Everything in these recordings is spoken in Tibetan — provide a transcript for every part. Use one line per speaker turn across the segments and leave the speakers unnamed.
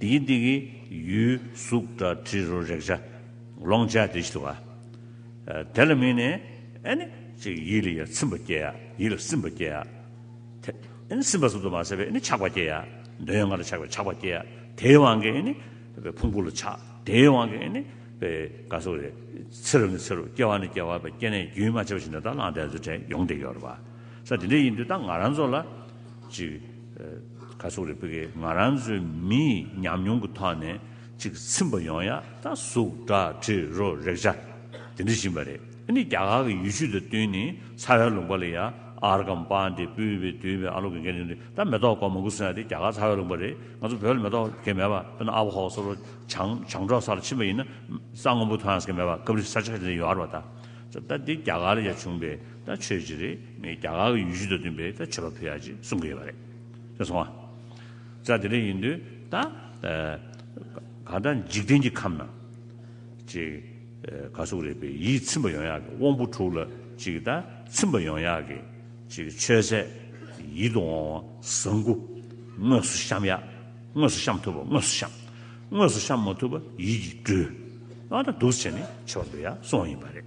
དེ་ཡི་སྟེང་གི་ཡུལ་གཟུགས་སྒྲ་དྲི་རོ་རེག་བྱ་ལོངས་སྤྱད་དེ་ཞེས་བ། དེ་ལ་དམིགས་ནས་ནི། ཡིད་ལ་ཡང་ཚིམ་པ་སྐྱེ་ཡ། ཡིད་ལ་སིམ་པ་སྐྱེ་ཡ། དེ་སིམ་པ་ཟུབ་ཏུ་མ་ཟད་པས་ནི་ཆགས་པ་སྐྱེ་ཡ། འདོད་ཡོན་ལྔ་ལ་ཆགས་པས་ཆགས་པ་སྐྱེ་ཡ། དེའི་དབང་གིས་ནི། ཕུང་པོ་ལ་ཆགས། དེའི་དབང་གིས་ནི། དགའ་སོགས་ལས། ཚེ་རབས་ནི་ཚེ་རབས་སྐྱེ་བ་ནི་སྐྱེ་བ་བས་སྐྱེ་གནས་རྒྱུན་མ་ཆད་པ་བཞིན་དུ་དང་བླངས་དད་རྫུ་འཕྲད་ཡོངས་འདས་ཀྱི་བར། ས་དེ་འདྲ་ཡིན་དུས་དང་ང་རང་ཚོ་ལ། ཁ་སོག་རི་བོ་ཡིས་ང་རང་ཚོའི་མི་ཡི་ཉམས་མྱོང་གི་ཐོག་ནས་ཅིག་ཚིམ་པ་ཡོང་ཡ་ད་གཟུགས་སྒྲ་དྲི་རོ་རེག་བྱ་དེ་འདྲི་བཞིན་པ་རེད་ཨ་ནི་རྒྱ་གར་གྱི་ཡུལ་ཤུལ་དང་བསྟུན་ནས་ཚ་བའི་ལུང་པ་ལ་ཡ་ཨར་ཀམ་པ་འདི་སྤུས་པའི་དུས་བས་ཨ་ལོ་གེ་གེ་འདི་འདི་ད་མེ་ཏོག་ཀོ་མང་པོ་སོང་ཡ་དེ་རྒྱ་གར་ཚ་བའི་ལུང་པ་རེད་ང་ཚོ་བོད་ལ་མེ་ཏོག་གེ་མེད་པ་དཔེར་ན་ཨ་བྷོ་ཧོ་སོགས་རོ་བྱང་བྱང་འབྲོག་ས་ལ་ཕྱིན་པ་ཡིན་ན་རྩྭ་སྔོན་པོ་ཐོན་ཡ་ས་གེ་མེད་པ་སྐབས་རེ་ས་ཆ་ཆ་འདི་ཡོ་ཨར་བ་ད་ད་འདི་རྒྱ་གར་ལ་ཡ་བྱུང་པའི། ད་ཆོས་ཅི་རེད་ངས་རྒྱ་གར་གྱི་ཡུལ་ཤུལ་དང་བསྟུན་པའི་ད་ཆོས་པ་ཕུལ་ཡག་ཅེས་གསུང་གི་ཡོད་པ་རེད་དེ་སོང་ང། ད་དེ་འདྲ་ཡིན་དུས་ད་གང་ལྟར་འཇིག་རྟེན་གྱི་ཁམས་ན། ཅིག་ག་གཟུགས་རེད་པས་ཡིད་ཚིམ་པ་ཡོང་ཡག་གི་དབང་པོ་དྲུག་ལ་ཅིག་ད་ཚིམ་པ་ཡོང་ཡག་གི་ཅིག་ཆོས་ཟད་ཡིད་དུ་འོང་བ་བཟང་དགུ་དངོས་སུ་བཤམ་ཡག་དངོས་སུ་བཤམ་ཐུབ་པ་དངོས་སུ་བཤམ། དངོས་སུ་བཤམ་མ་ཐུབ་པ་ཡིད་ཀྱིས་སྤྲུལ། ད་སྡུག་བྱས་ནས་ཆོས་པ་འདོད་ཡག་སོང་བ་ཡིན་པ་རེད།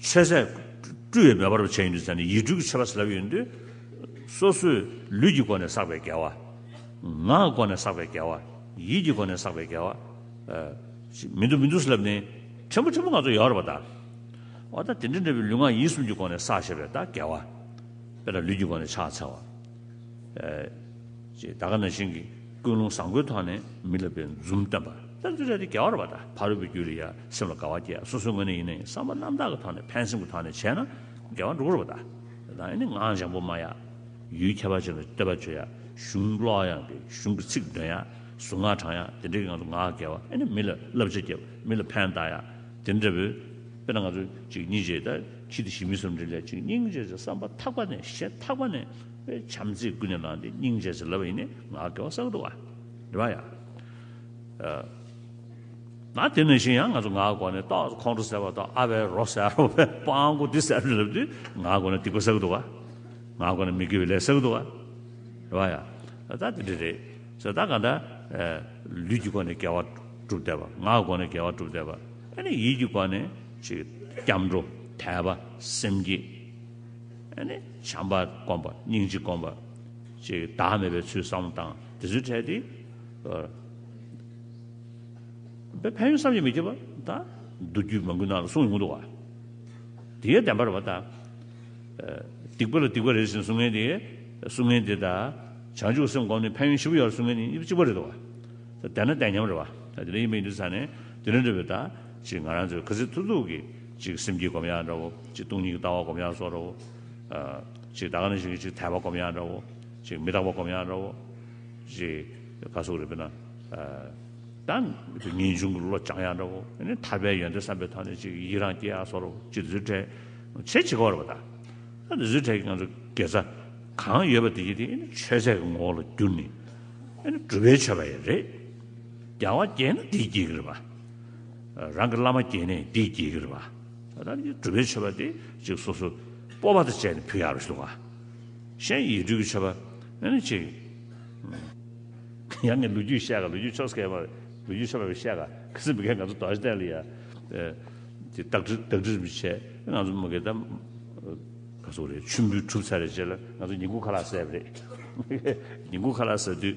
ཆོས་ཟད། སྤྲུལ་བའི་མེ་འབར་བར་བྱས་ཡིན་དུས་ཚད་ནི་ཡིག་འབྲུ་གྱི་ཕྱེད་པ་ཟླ་བ་ཡིན་དུས། སོ་སོའི་ལུས་ཀྱི་སྒོ་ནས་བསགས་པའི་དགེ་བ། ངག་གི་སྒོ་ནས་བསགས་པའི་དགེ་བ། ཡིད་ཀྱི་སྒོ་ནས་བསགས་པའི་དགེ་བ། མི་འདུག་མི་འདུག་ཟླ་བ་ནི། ཕྲན་བུ་ཕྲན་བུ་ང་ཚོ་ཡོད་རེད་པ་ད། འོ་ད་དེ་འདྲ་འདྲ་བའི་ལུས་ངག་ཡིད་གསུམ་གྱི་སྒོ་ནས་བསགས་ཞེས་པའི་ད་དགེ་བ། དཔེར་ན་ལུས་ཀྱི་སྒོ་ནས་ཕྱག་འཚལ་བ། ཅེས་ད་ག་ན་ཤིང་གི་ཀུན་སློང་བཟང་པོའི་ཐོག་ནས་མི་ལ་བའི་འཛུམ་བསྟན་པ། ད་འདི་རེད་དེ་རྒྱལ་བར་བ་ད་ཕ་རོལ་པོའི་རྒྱུད་རེད་ཡ་སེམས་ལ་དགའ་བ་སྐྱེ་སོ་སོའི་ངོས་ནས་ཡིན་ནའི་བསམ་པ་རྣམ་དག་གི་ཐོག་ནས་ཕན་སེམས་ཀྱི་ཐོག་ནས་བྱས་ན་དགེ་བ་འགྲུབ་བར་བ་ད། དེ་དང་ཡིན་ནའི་ངག་འཇམ་པོ་སྨྲ་ཡ། ཡུལ་ཁྱད་པར་ཅན་ལ་བསྟོད་པ་བརྗོད་ཡ་གཞུང་ཀློག་ཡ་དགེ་གཞུང་གི་ཚིག་འདོན་ཡ་གཟུངས་སྔགས་བགྲང་ཡ་དེ་འདྲའི་ངང་དུ་ངག་གི་དགེ་བ་ཡིན་ནའི་མི་ལ་བསླབ་བྱ་སྐྱེ་བ་མི་ལ་ཕན་བཏགས་ཡ་དེ་འདྲ་བོའི་དཔེར་ན་ང་ཚོ་གཅིག་གཉིས་བརྗེས་ད། ཕྱིས་དེ་བཞིན་མི་གསུམ་དྲིན་ལས་གཅིག་སྙིང་རྗེ་ཆེ་བསམ་པ་ཐག་པ་ནས་ཞེ་ཐག་པ་ནས་པའི་བྱམས་བརྩེས་ཀུན་ནས་གནང་སྟེ་སྙིང་རྗེ་ཆེ་ལབ་པ་ཡིན་ནས་ང་དགེ་བ་བསགས་འདུག་ཨ། རེ་བ་ཡ། ན་དེ་ནས་བཞིན་ཡང་ང་ཚོ་ང་གོ་ནས་ཏོག་ཙེ་ཁོང་ཁྲོ་ཟེར་བ་ཏོག་ཨ་བའི་རོ་ཟེར་རོ་བའི་པང་གོ་འདི་ཟེར་ལབ་དུས་ང་གོ་ནས་སྡིག་པ་བསགས་འདུག་ཨ། ང་གོ་ནས་མི་དགེ་བའི་ལས་བསགས་འདུག་ཨ། རེ་བ་ཡ། ད་དེ་འདྲ་རེད། ཟེར་ད་ག་འདྲ། ལུས་ཀྱི་སྒོ་ནས་དགེ་བ་བསྒྲུབ་བསྡད་པ་ང་གོ་ནས་དགེ་བ་བསྒྲུབ་བསྡད་པ་ཨ་ནི་ཡིད་ཀྱི་སྒོ་ནས། ཅིག། སྐྱབས་འགྲོ་དད་པ་སེམས་བསྐྱེད། བྱམས་པ་སྒོམ་པ་སྙིང་རྗེ་སྒོམ་པ། ཅིག། བདག་མེད་པའི་ཚུལ་བསམ་བློ་བཏང། དེ་ཚུལ་འཕྲལ་དེ། ཕན་ཡོན་བསམ་གྱིས་མི་ཁྱབ་པ། མདོ་རྒྱུད་མ་འགུལ་ནང་ལ་གསུངས་ཡོང་འདུག། དེའི་བདེན་པར་བ། སྡིག་པ་ལ་སྡིག་པ་རེ་ཟིན་བསྲུང་ངན་དེ། བསྲུང་ངན་དེ་དང། བྱང་ཆུབ་སེམས་བསྒོམ་ནས་ཕན་ཡོན་བཞི་པོ་ཡོད་བསྲུང་ངན་ནི་གཅིག་པ་རེད་དོ། བདེན་ན་བདེན་མཉམ་རེད་བ། དེ་ལ་དབྱེ་མེད་ཡིན་དུ་ཚང་ནས་དེ་ལས་འགྲོ་བའི་བདག། ཅིག་ང་རང་ཚོའི་གྷི་ཟི་ཐུ་ཐུག་གིས་ཅིག་སེམས་སྐྱིད་སྒོམ་ཡག་འདྲ་བོ། ཅིག་སྟོང་ཉིད་ཀྱི་ལྟ་བ་སྒོམ་ཡག་སོགས་འདྲ་བོ། ཅིག་ད་ག་ནས་ཞིག་གིས་ཅིག་དད་པ་སྒོམ་ཡག་འདྲ་བོ། ཅིག་མི་རྟག་པ་སྒོམ་ཡག་འདྲ་བོ། ཅིག་ག་སོགས་རེད་པས་ན། ད་ངེས་འབྱུང་གི་བློ་སྦྱང་ཡག་འདྲ་བོ། ནི་ཐར་པའི་ཡོན་ཏན་བསམ་པའི་ཐོག་ནས་ཅིག་ཡིད་རང་སྐྱེ་ཡག་སོགས་རེད་བོ། ཅིག་དེ་ཚོའི་གྲས་ཆེས་ཆེ་ག་བ་རེད་བོ་ད། ད་དེ་ཚོའི་གྲས་ཀྱི་ང་ཚོ་དགེ་རྩ་གང་ཡོད་པ་དེ་གྱིས་དེ་ནི་ཆོས་ཟད་ཀྱི་ངོ་བོ་ལ་བསྒྱུར་ནས། ནི་གྲུབ་པའི་ཆོས་པ་ཡིན་རེད། རྒྱལ་བ་དགྱེས་ན་དེས་དགྱེས་ཀྱི་རེད་བ། རང་གི་བླ་མ་བསྐྱེད་ནས་འདི་བསྐྱེད་ཀྱི་རེད་པ། ད་ལྟ་ནི་སྒྲུབ་པའི་མཆོད་པ་དེ་གཅིག་སོ་སོའི་སྤོབས་པ་དང་བཅས་ནས་ཕུལ་ཡག་རེ་བྱུང་བ། གཞན་ཡིག་འབྲུ་གི་མཆོད་པ་ནི་ནི་གཅིག། ཡང་ངས་ལོ་རྒྱུས་བཤད་ག་ལོ་རྒྱུས་ཕྱོགས་སྐད་མ་ལོ་རྒྱུས་ཕྱོགས་མ་བཤད་ག་གལ་སྲིད་མི་གལ་ང་ཚོ་དོགས་ཞེ་བརྟན་ལ་ཡང་དེ་བདག་སྒྲིག་མི་བྱེད་ང་ཚོ་མི་གལ་ད་ག་ཟུག་རེད་མཆོད་འབུལ་གྲུབ་ཚར་རེད་ཅེས་ལ་ང་ཚོ་ཉིན་གུང་ཁ་ལག་ཟས་པ་རེད། ཉིན་གུང་ཁ་ལག་ཟ་དུས།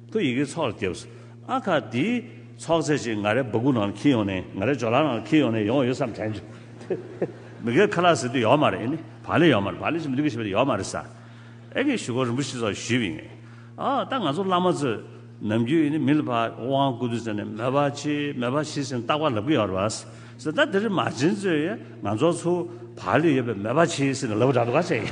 ཁོས་ཡི་གེའི་ཚོགས་ལ་བལྟས། ཨ་ཁ་དེའི་ཚོགས་ཚད་ཅིག་ང་རའི་སྦུ་གུ་ནང་ལ་འཁྱིལ་ཡོང་ནས་ང་རའི་སྦྱོར་ལག་ནང་ལ་འཁྱིལ་ཡོང་ནས་ཡོང་ཡོད་བསམ་དྲན། མི་སྒེར་ཁ་ལག་ཟེར་དུས་ཡོག་མ་རེད། བག་ལེ་ཡོག་མ་རེད་བག་ལེ་ཞིག་མི་འདུག་གི་ཞེས་པ་དེ་ཡོག་མ་རེད། ས་ཨེ་ཀའི་ཞུ་སྒོར་རིན་པོ་ཆེ་སོགས་ཞུས་པའི་ངེས། ཨ་ད་ང་ཚོ་བླ་མ་ཚོས་ནམ་རྒྱུན་མི་ལ་ཕ་ཝང་ཀུ་དུས་ཟེར་ནས་མོས་པ་ཆེ་མོས་པ་ཆེ་ཟེར་ནས་རྟག་པར་ལབ་གི་ཡོག་རེད་བ། ད་དེ་རིང་མ་བྱན་ཚོས་ཡ་ང་ཚོ་ཚོ་བག་ལེ་ཡོད་པས་མོས་པ་ཆེ་ཟེར་ནས་ལབ་འདྲ་འདུག་ག་ཚད་ཡིན།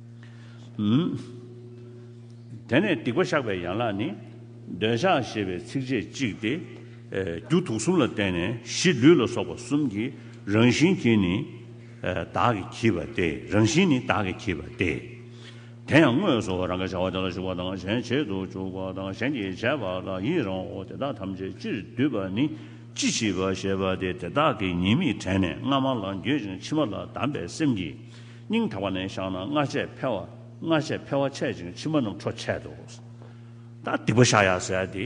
དེ་ནས་སྡིག་པ་བཤགས་པའི་ཡན་ལག་ནི། འདོད་ཆགས་ཞེས་པའི་ཚིགས་བཅད་གཅིག་སྟེ། རྒྱུ་དུག་གསུམ་ལ་བརྟེན་ནས་གཞི་ལུས་ལ་སོགས་པ་གསུམ་གྱི་རང་བཞིན་གྱིས་ནི། བདག་གིས་བགྱིས་པ་སྟེ་རང་བཞིན་ནི་བདག་གིས་བགྱིས་པ་སྟེ། དེ་ཡང་དངོས་སུ་རང་གིས་བྱ་བ་དེ་ལ་ཞུགས་པ་དང་གཞན་བྱེད་དུ་འཇུག་པ་དང་གཞན་གྱིས་བྱས་པ་ལ་ཡི་རང་ངོ་དེ་དག་ཐམས་ཅད་སྤྱིར་བསྡུས་པ་ནི་ཅི་བྱིས་པ་ཞེས་པ་སྟེ་དེ་དག་གིས་ཉེས་དམིགས་དྲན་ནས་སྔ་མ་ལ་འགྱོད་ཅིང་ཕྱི་མ་ལ་བསྡམས་པའི་སེམས་ཀྱིས། སྙིང་དག་པ་ནས་བཞག་ན་སྔ་ཆད་འཕེལ་བ་སྔ་ཆད་འཕེལ་བ་ཆད་ཅིང་ཕྱི་མ་རྣམས་འཕྲོ་ཆད་དོ། ད་སྡིག་པ་བཤགས་ཡ་ཟེར་ཏེ།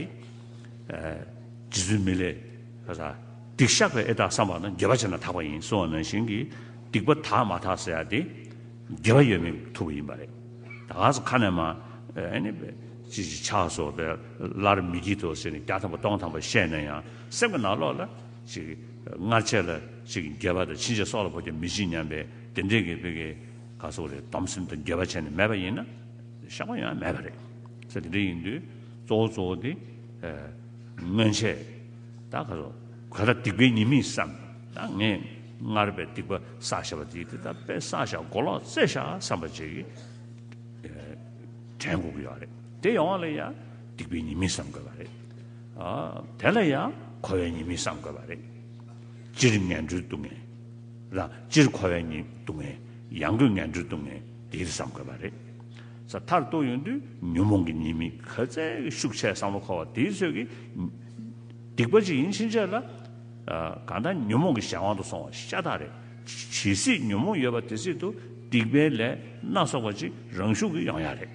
རྗེ་བཙུན་མི་ལས། སྡིག་བཤགས་པའི་ཨེ་དག་བསམ་པ་ན་དགེ་བ་བྱས་ན་དག་པ་ཡིན་གསུང་བ་ནང་བཞིན་གྱི་སྡིག་པ་དག་མ་དག་ཟེར་ཏེ། དགེ་བ་ཡོད་མེད་ཐུབ་པ་ཡིན་པ་རེད། ད་ག་ས་ཁ་ནས་མ། ཅི་ཞིག་ཆགས་སོ་བས་སླར་མི་བགྱིད་དོ་ཟེར་ནས་བརྒྱ་ཐམ་པ་སྟོང་ཐམ་པ་བཤད་ན་ཡང་སེམས་ཀྱི་ནང་ལོགས་ལ། སྔར་ཆད་ལ། དགེ་བ་དང་ཕྱིན་ཆད་སྲོག་ལ་བོ་ཀྱང་མི་བྱེད་སྙམ་པའི། དེ་འདྲའི་གི་བོད་ཀྱི་ག་སོག་རེད་སྡོམ་སེམས་དང་འགྱོད་པ་བྱས་ནས་མེད་པ་ཡིན་ན་ཤག་པ་ཡང་མེད་པ་རེད་ས་དེ་འདྲ་ཡིན་དུས་གཙོ་བོ་གཙོ་བོ་དེ་སྔོན་ཆད་ད་ག་སོག་གོས་ར་སྡིག་པའི་ཉེས་མིང་བསམ་ད་ངས་སྔར་པའི་སྡིག་པ་བསག་བཞག་པ་དེ་དེ་ད་པས་བསག་བཞག་མགོ་ལོག་རྩེ་བཞག་བསམ་པ་བྱེད་ཀྱི་དྲན་དགོས་ཀྱི་ཡོད་རེད་དེ་ཡོང་བ་ལ་ཡང་སྡིག་པའི་ཉེས་མིང་བསམ་དགོས་པ་རེད་དེ་ལ་ཡང་གོ་བའི་ཉེས་མིང་བསམ་དགོས་པ་རེད་སྤྱིར་ངན་འགྲོའི་སྡུག་བསྔལ། ར། སྤྱིར་འཁོར་བའི་ཉིད་སྡུག་བསྔལ། ཡང་སྡུག་བསྔལ་འབྲུ་སྡུག་བསྔལ་འདིར་བསམ་དགོས་པ་རེད། ས་མཐར་གཏུགས་ཡོང་དུས་ཉོན་མོངས་ཀྱི་ཉེས་དམིགས་ག་ཚད་ཤུགས་ཆེ་བསམ་བློ་འཁོར་བ་དེའི་ཚོད་ཀྱིས། སྡིག་པ་ཅིག་ཡིན་ཕྱིན་ཆད་ལ། གང་ལྟར་ཉོན་མོངས་ཀྱི་གཞན་དབང་དུ་སོང་བ་ཤ་སྟག་རེད། ཇི་སྲིད་ཉོན་མོངས་ཡོད་པ་དེ་སྲིད་དུ་སྡིག་པའི་ལས་སྣ་ཚོགས་པ་ཅིག་རང་ཤུགས་ཀྱིས་ཡོང་ཡ་རེད།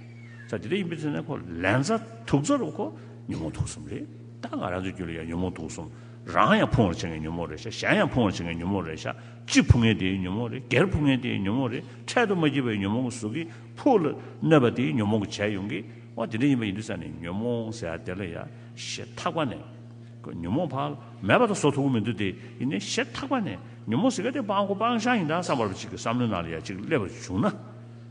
ས་དེ་འདྲ་ཡིན་པའི་ཚེ་ན་ཁོ་ལན་ཚ་དུག་རྩ་རུ་ཁོ་ཉོན་མོངས་དུག་གསུམ་རེད། ད་ང་རང་ཚོའི་རྒྱུད་ལ་ཡང་ཉོན་མོངས་དུག་གསུམ། རང་ཡང་ཕུང་བར་བྱེད་ངེས་ཉོན་མོངས་རེད་ཤག་གཞན་ཡང་ཕུང་བར་བྱེད་ངེས་ཉོན་མོངས་རེད་ཤག་གཅིག་ཕུང་ངེས་དེའི་ཉོན་མོངས་རེད་སྒེར་ཕུང་ངེས་དེའི་ཉོན་མོངས་རེད་འཕྲལ་དུ་མ་སྐྱེས་པའི་ཉོན་མོངས་གཟུགས་ཀྱི་ཕུག་ལ་གནོད་པ་དེའི་ཉོན་མོངས་བྱས་ཡོང་གི་བ་དེ་འདྲ་ཡིན་པ་ཡིན་དུས་ས་ནས་ཉོན་མོངས་ཟེར་ཡ་དེ་ལ་ཡ་ཞེས་ཐག་པ་ནས་གོ་ཉོན་མོངས་ཕག་ལ་མེད་པ་དང་སོ་ཐུག་གོ་མི་འདུག་དེ་ཡིན་ནའི་ཞེས་ཐག་པ་ནས་ཉོན་མོངས་ཟེར་ག་དེ་སྤང་དགོ་སྤང་ཤག་ཡིན་ད་བསམ་བར་བ་གཅིག་གི་བསམ་བློའི་ནང་ལ་ཡ་གཅིག་སླེབས་པར་བྱུང་ན་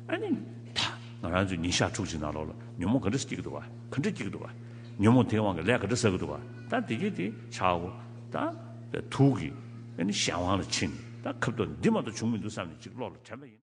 ཨ་ནི་ད་ང་རང་ཚོས་ཉིན་ཞག་ཕྲུག་གཅིག་ནང་ལོག་ལ་ཉོན་མོངས་ག་འདྲ་སྐྱེས་ཀྱི་འདུག་བ་ག་འདྲ་སྐྱེས་ཀྱི་འདུག་བ། ཉོན་མོངས་དེའི་དབང་གིས་ལས་ག་འདྲ་ཟ་གི་འདུག་ག་ད་དེ་སྐད་དེ་ཆའོ། ད་ཐུག་གིས་གཞན་དབང་ལ་ཕྱིན་ནས་ད་ཁབ་ཏོ་འདི་མ་གཏོགས་བྱུང་མི་འདུག་བསམ་ནས་ཅིག་བློ་ལ་དྲན་པ་ཡིན།